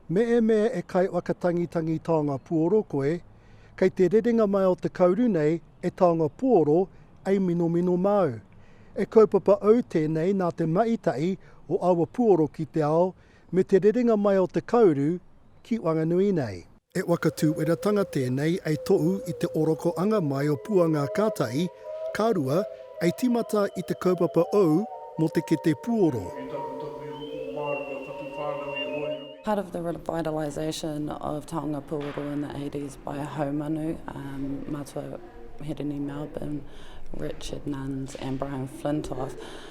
Meemea e Kaiwhakatangitangi Taonga Puoro koe, kei te rerenga mai o te kauru nei e Taonga Puoro ei minomino māu. E kaupapa au tēnei nā te maitahi o aua puoro ki te ao me te rerenga mai o te kauru ki Wanganui nei. He waka tūweratanga tēnei ei tohu i te oroko anga mai o Puanga kātahi ka rua ei tīmata i te kaupapa ou mō te kete puoro. Part of the revitalisation of taonga puoro in the eighties by a haumanu, Matua Hirini Melbourne, Richard Nunns and Brian Flintoff,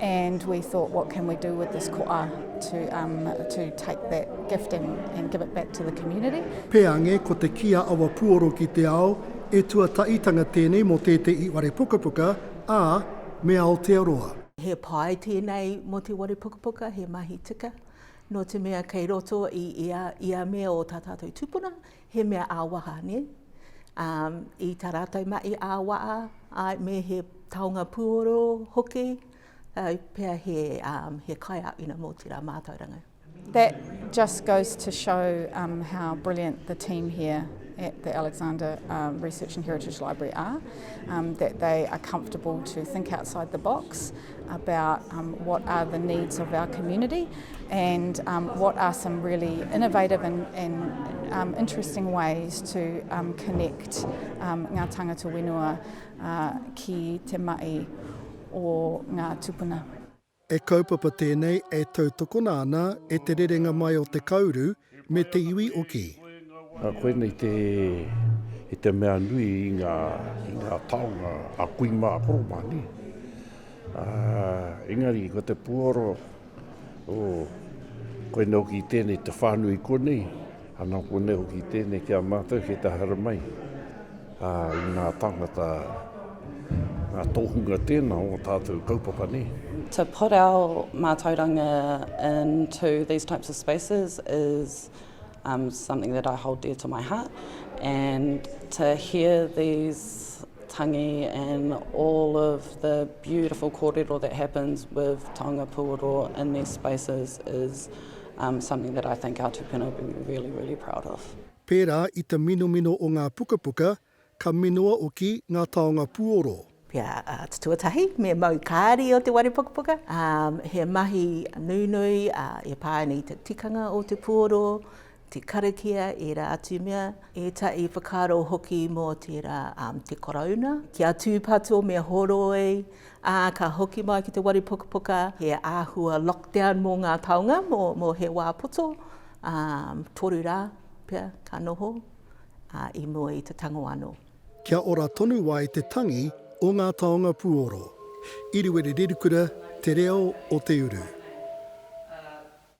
And we thought, what can we do with this koa to, um, to take that gift and, and give it back to the community. Peange, ko te kī a Awa Puoro ki te ao, e tuataitanga tēnei mō tētehi ware pukapuka, ā, me Aotearoa. He pai tēnei mō te ware pukapuka, he mahi tika. Nō te mea kei roto i ia, ia mea o tā tātou tūpuna, He mea ā-waha, nē? Ā, i tā rātou mahi ā-waha, āe, me he taonga puoro hoki, āe pea he, ā, he kaiāwhina mō tērā mātauranga. That just goes to show um, how brilliant the team here at the Alexander um, Research and Heritage Library are, um, that they are comfortable to think outside the box about um, what are the needs of our community and um, what are some really innovative and, and um, interesting ways to um, connect um, ngā tangata whenua uh, ki te mai o ngā tupuna. E kaupapa tēnei e tautokona ana e te rerenga mai o te kauru me te iwi o Kī. Nā, koinei te, i te mea nui i ngā, i ngā taonga a kui mā, a koro mā, nē? Ā, engari, ko te puoro, ō, koinei hoki i tēnei te whānui konei, ana, konei hoki i tēnei ki a mātou, ki te haere mai. Ā, i ngā tāngata, ngā tohunga tēnā o ō tātou kaupapa nei. To put our mātauranga into these types of spaces is um, something that I hold dear to my heart and to hear these tangi and all of the beautiful kōrero that happens with Taonga Pūoro in these spaces is um, something that I think our tupuna would be really, really proud of. Pērā i te minomino o ngā pukapuka, ka minoa oki ngā taonga puoro. Pia tuatahi, me mau kāri o te ware pukapuka. He mahi nunui e pā ana i te tikanga o te puoro, te karakia, ērā atu mea, ētahi whakaaro hoki mō tērā te Karauna, kia tūpato me horoi Ā, ka hoki mai ki te wari pukapuka he āhua lockdown mō ngā taonga, mō he wā poto, ā, toru rā pea ka noho, ā, i mua i te tango anō. Kia ora tonu ai te tangi o ngā taonga puoro. Iriwiri Rirukura, Te Reo o te Uru.